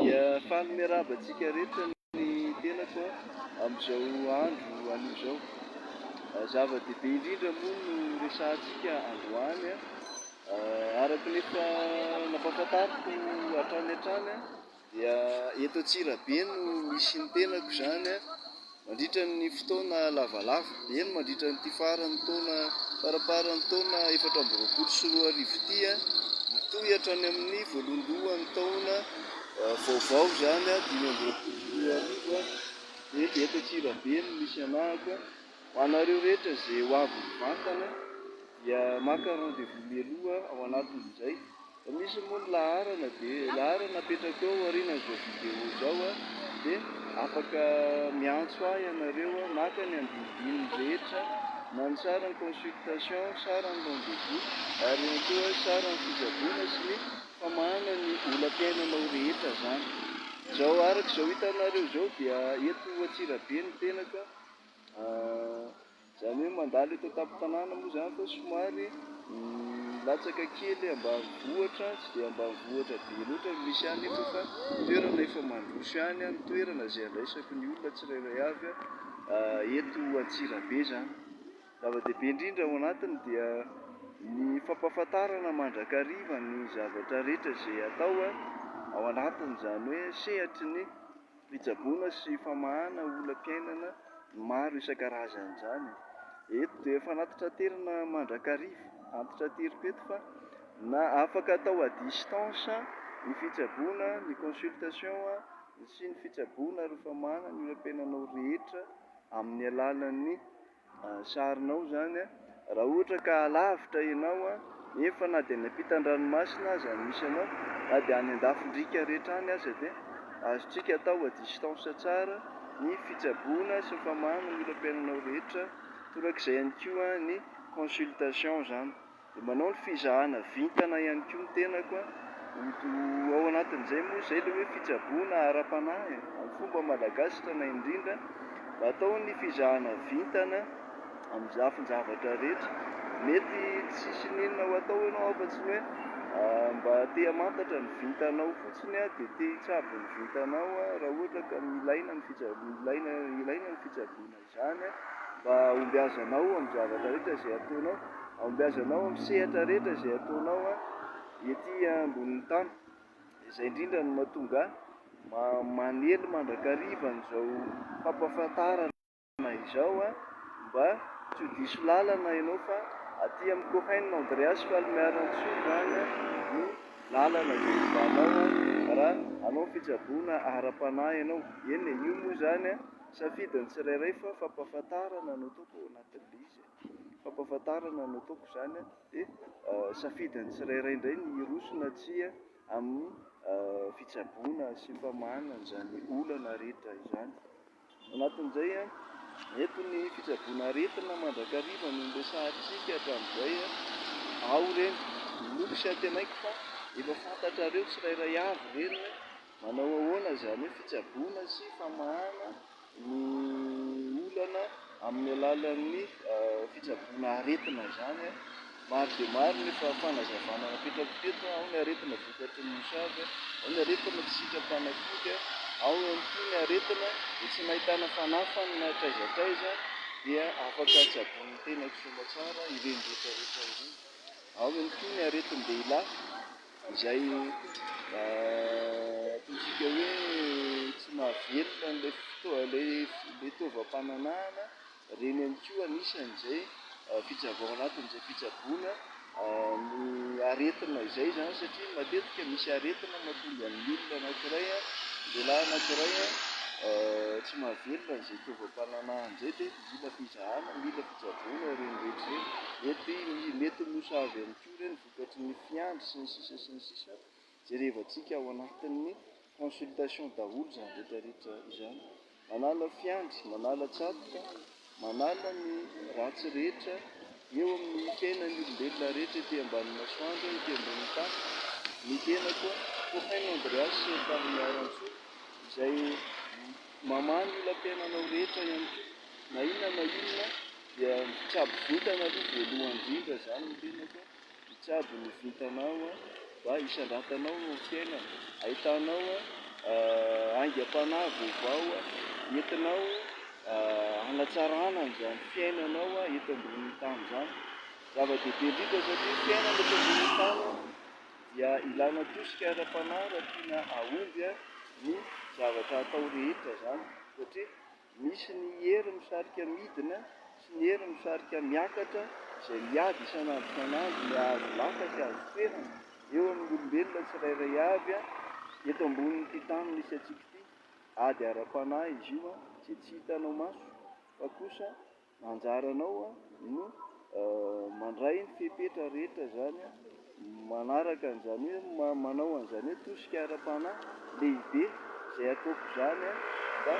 Dia faly miarahaba antsika rehetra ny tenako amin'izao andro anio izao. Zava-dehibe indrindra moa no resahantsika androany, araka ny efa nampahafantariko hatrany hatrany. dia eto Antsirabe no misy ny tenako izany mandritra ny fotoana lavalava, eny mandritra ny ity faran'ny taona faramparan'ny taona efatra amby roapolo sy roa arivo ity, mitohy hatrany amin'ny voalohandohan'ny taona eh, vaovao izany dimy amby roapolo sy roa arivo, dia eto Antsirabe no misy anahako, ho anareo rehetra izay ho avy mivantana dia maka rendez-vous mialoha ao anatin'izay. Misy moa ny laharana dia laharana apetrako eo aorianan'izao vidéo izao a, dia afaka miantso ahy ianareo a, maka ny andinidininy rehetra na ny saran'ny consultation, saran'ny rendez-vous ary ihany koa saran'ny fitsaboana sy ny famahana ny olam-piainanao rehetra izany. Izao araka izao hitanareo izao dia eto Antsirabe ny tenako a. Izany hoe mandalo eto an-tampon-tanàna moa izany fa somary milatsaka kely ambanivohitra, tsy dia ambanivohitra be loatra no misy ahy nefa fa toerana efa mandroso ihany ny toerana izay andraisako ny olona tsirairay avy eto Antsirabe izany. Ny zava-dehibe indrindra ao anatiny dia ny fampahafantarana mandrakariva ny zavatra rehetra izay atao ao anatiny, izany hoe sehatry ny. fitsaboana sy famahana olam-piainana maro isan-karazany izany. Eto dia fanantitraterina mandrakariva, antitrateriko eto fa na afaka atao à distance ny fitsaboana, ny consultation sy ny fitsaboana ary famahana ny olam-piainanao rehetra amin'ny alalan'ny. sarinao zany raha ohatra ka alavitra ianao nefa na dia any ampitan-dranomasina aza no misy anao na dia any an-dafin-driaka rehetra any aza dia azontsika atao à distance tsara ny fitsaboana sy ny famahanana ny olam-piainanao rehetra torak'izay ihany koa ny consultation zany Dia manao ny fizahana vintana ihany koa ny tenako an! Ho ao anatin'izay moa izay ilay hoe fitsaboana ara-panahy e! Amin'ny fomba malagasy tena indrindra, mba atao ny fizahana vintana amin'ny lafin-javatra rehetra. Mety tsy hisy n'inona ho atao ianao afa-tsy ny hoe mba te hamantatra ny vintanao fotsiny an, dia te hitsabo ny vintanao an, raha ohatra ka ilaina ny fitsaboana, ilaina ny fitsaboana izany. izany, mba ahombiazanao amin'ny zavatra rehetra izay ataonao, ahombiazanao amin'ny sehatra rehetra izay ataonao ety ambonin'ny tany, izay indrindra no mahatonga ahy manely mandrakariva an'izao fampahafantarana izao mba tsy ho diso lalana ianao fa aty amin'i Cohen Andreas Falmiaransoa izany no lalana izay hijanao raha hanao fitsaboana ara-panahy ianao, eny e, io moa izany. Safidy ny tsirairay fa fampahafantarana no ataoko ao anatin'ilay izy e. Fampahafantarana no ataoko izany a, dia safidy ny tsirairay indray ny hiroso na tsia amin'ny fitsaboana sy famahanana an'izany olana rehetra izany. Ao anatin'izay a, eto ny fitsaboana aretina mandrakariva no niresahantsika hatramin'izay a, ao ireny, inoako sy antenaiko fa efa fantatrareo tsirairay avy ireny. Manao ahoana izany hoe fitsaboana sy famahana ny olana amin'ny alalan'ny fitsaboana aretina izany? Maro dia maro ny fanazavana napetrako teto, ao ny aretina vokatry ny mosavy, ao ny aretina tsy sitrapanafody, ao ihany koa ny aretina dia tsy nahitana fanafany na hatraiza hatraiza dia afaka tsaboin'ny tenako soamantsara ireny rehetra rehetra ireny, ao ihany koa ny aretin-dehilahy. izay ataontsika hoe tsy mahavelona an'ilay fotoa- ilay fitaovam-pananahana, ireny ihany koa anisan'izay fitsabo ao anatin'izay fitsaboana ny aretina izay izany satria matetika misy aretina mahatonga ny olona anankiray, lehilahy anankiray tsy mahavelona an'izay fitaovam-pananahana izay dia mila fizahana, mila fitsaboana ireny rehetra ireny, mety mety ho mosavy ihany koa ireny. Mihoatra ny fiandry sy ny sisa sy ny sisa, jerevantsika ao anatin'ny consultation daholo izany rehetra rehetra izany. Manala fiandry, manala tsatoka, manala ny ratsy rehetra eo amin'ny fiainan'ny olombelona rehetra ety ambanin'ny masoandro, ety ambonin'ny tany, ny tenako Cohen Andreas Tahimaharantsoa izay mamaha ny olam-piainanao rehetra ihany koa. Na inona na inona dia mitsabo vintana aloha voalohany indrindra zany ny tenako a, mitsabo ny vintanao a, mba hisandratanao eo amin'ny fiainana, ahitanao aingam-panahy vaovao entinao hanatsarana an'izany fiainanao eto ambonin'ny tany zany, zava-dehibe indrindra satria fiainana eto ambonin'ny tany dia ilana tosika ara-panahy raha tiana hahomby ny zavatra atao rehetra zany satria. Misy ny hery misarika midina sy ny hery misarika miakatra izay miady isan'andro isan'andro ny hahazo laka sy hahazo toerana eo amin'ny olombelona tsirairay avy eto ambonin'ity tany misy antsika ity. Ady ara-panahy izy io izay tsy hitanao maso fa kosa. Anjaranao no mandray ny fepetra rehetra izany manaraka an'izany hoe manao an'izany hoe tosika ara-panahy lehibe izay ataoko izany mba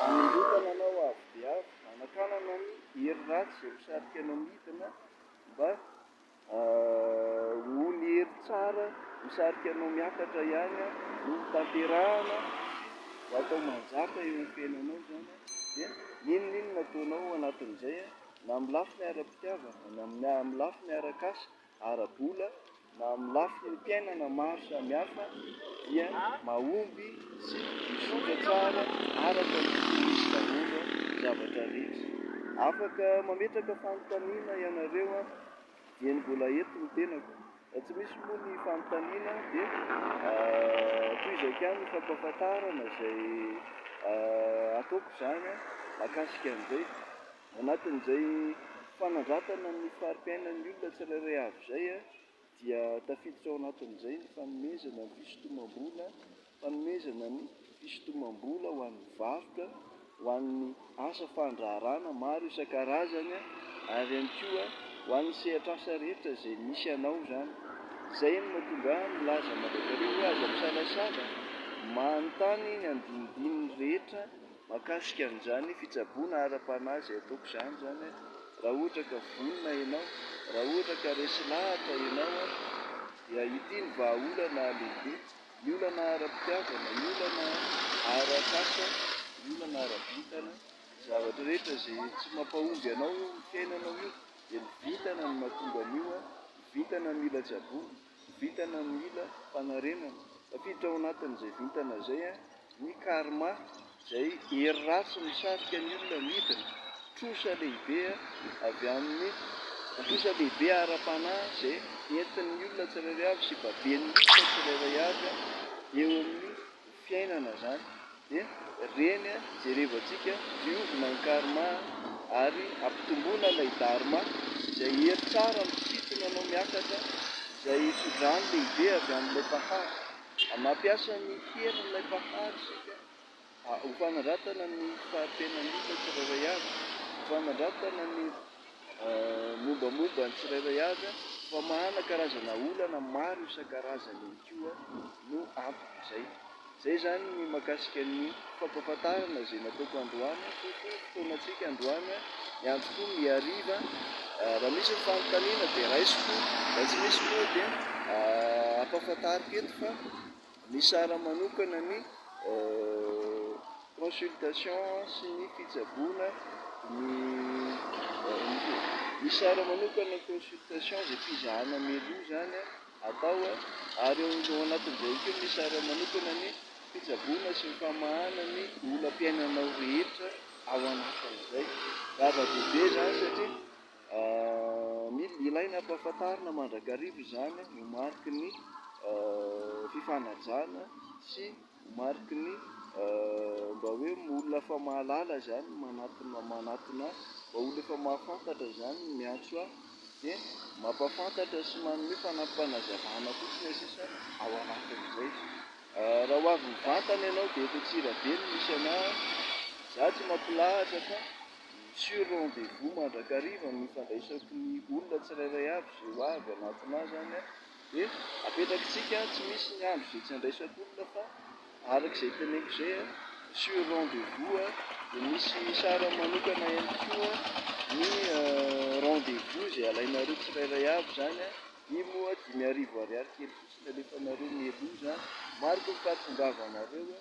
hanondrotana anao avo dia avo, hanakanana ny hery ratsy izay misarika anao midina mba Hoy ny hery tsara, Misarika anao miakatra ihany aho, no ho tanterahina, ho atao manjaka eo amin'ny fiainanao izany aho, dia n'inon'inona ataonao anatin'izay, na amin'ny lafiny ara-pitiavana, na amin'ny lafiny ara-kasa, ara-bola, na amin'ny lafiny fiainana maro samihafa, dia mahomby sy mizotra tsara araka ny fisian'izy daholo ny zavatra rehetra. Afaka mametraka fanontaniana ianareo aho. Eny mbola eto ny tenako. Raha tsy misy moa ny fanontaniana dia tohizako ihany ny fampahafantarana izay ataoko izany mahakasika an'izay. Anatin'izay fanandratana ny fari-piainan'ny olona tsirairay avy izay dia tafiditra ao anatin'izay ny fanomezana ny fisintomam-bola. Fanomezana ny fisintomam-bola ho an'ny varotra ho an'ny asa fandraharahana maro isan-karazany ary ihany koa ho an'ny sehatr'asa rehetra izay misy hanao izany. Izay no mahatonga ahy milaza mandrakariva hoe aza misalasala manontany ny andinindininy rehetra mahakasika an'izany fitsaboana ara-panahy izay ataoko izany izany raha ohatra ka vonona ianao, raha ohatra ka resy lahatra ianao dia ity ny vahaolana lehibe. ny olana ara-pitiavana, ny olana ara-kasa, ny olana ara-bintana, zavatra rehetra izay tsy mampahomby anao eo amin'ny fiainanao io dia ny vintana no mahatonga an'io an, ny vintana mila tsaboina, ny vintana mila fanarenana, tafiditra ao anatin'izay vintana izay an. ny karma izay hery ratsy misarika ny olona midina, trosa lehibe avy amin'ny trosa lehibe ara-panahy izay entin'ny olona tsirairay avy sy baben'ny olona tsirairay avy eo amin'ny fiainana izany dia ireny jerevantsika diovina ny karma ary ampitomboina ilay dharma izay hery tsara misintona anao miakatra izay fidrany lehibe avy amin'ilay mpahary Mampiasa ny herin'ilay Mpahary isika ho fanandratana ny fahampianan'isa tsirairay avy, ho fanandratana ny mombamomba ny tsirairay avy, fa manana karazana olana maro isan-karazany ihany koa no anton'izay. Izay izany ny mahakasika ny. Fampahafantarana izay nataoko androany, tompoko, fotoanantsika androany, ny androko mihariva, raha misy ny fanontaniana dia raisiko, raha tsy misy moa dia ampahafantariko eto fa nisara manokana ny consultation sy ny fitsaboana ny nisara manokana ny consultation izay fizahana meloa izany. atao ary eo anatin'izay koa misy sary manokana ny fitsaboana sy ny famahana ny olam-piainanao rehetra ao anatin'izay. Zava-dehibe izany satria mila, ilaina ampahafantarina mandrakariva izany ho mariky ny fifanajana sy. Ho mariky ny mba hoe olona efa mahalala izany, manatona, manatona ahy, mba olona efa mahafantatra izany no miantso ahy, dia mampahafantatra sy manome fanampim-panazavana fotsiny ny sisa ao anatin'izay. Raha ho avy mivantana ianao dia eto Antsirabe no misy anah, izaho tsy mampilahatra fa sur rendez-vous mandrakariva no ifandraisako ny olona tsirairay avy izay ho avy hanatona ahy izany an! Dia apetrakitsika tsy misy ny andro izay tsy handraisako olona fa araka izay teneniko izay a, sur rendez-vous a, dia misy sarany manokana ihany koa ny rendez-vous izay alainareo tsirairay avy izany a, io moa dimy arivo ariary kely fotsiny alefanareo mialoha izany, mariko ny fahatongavanareo a.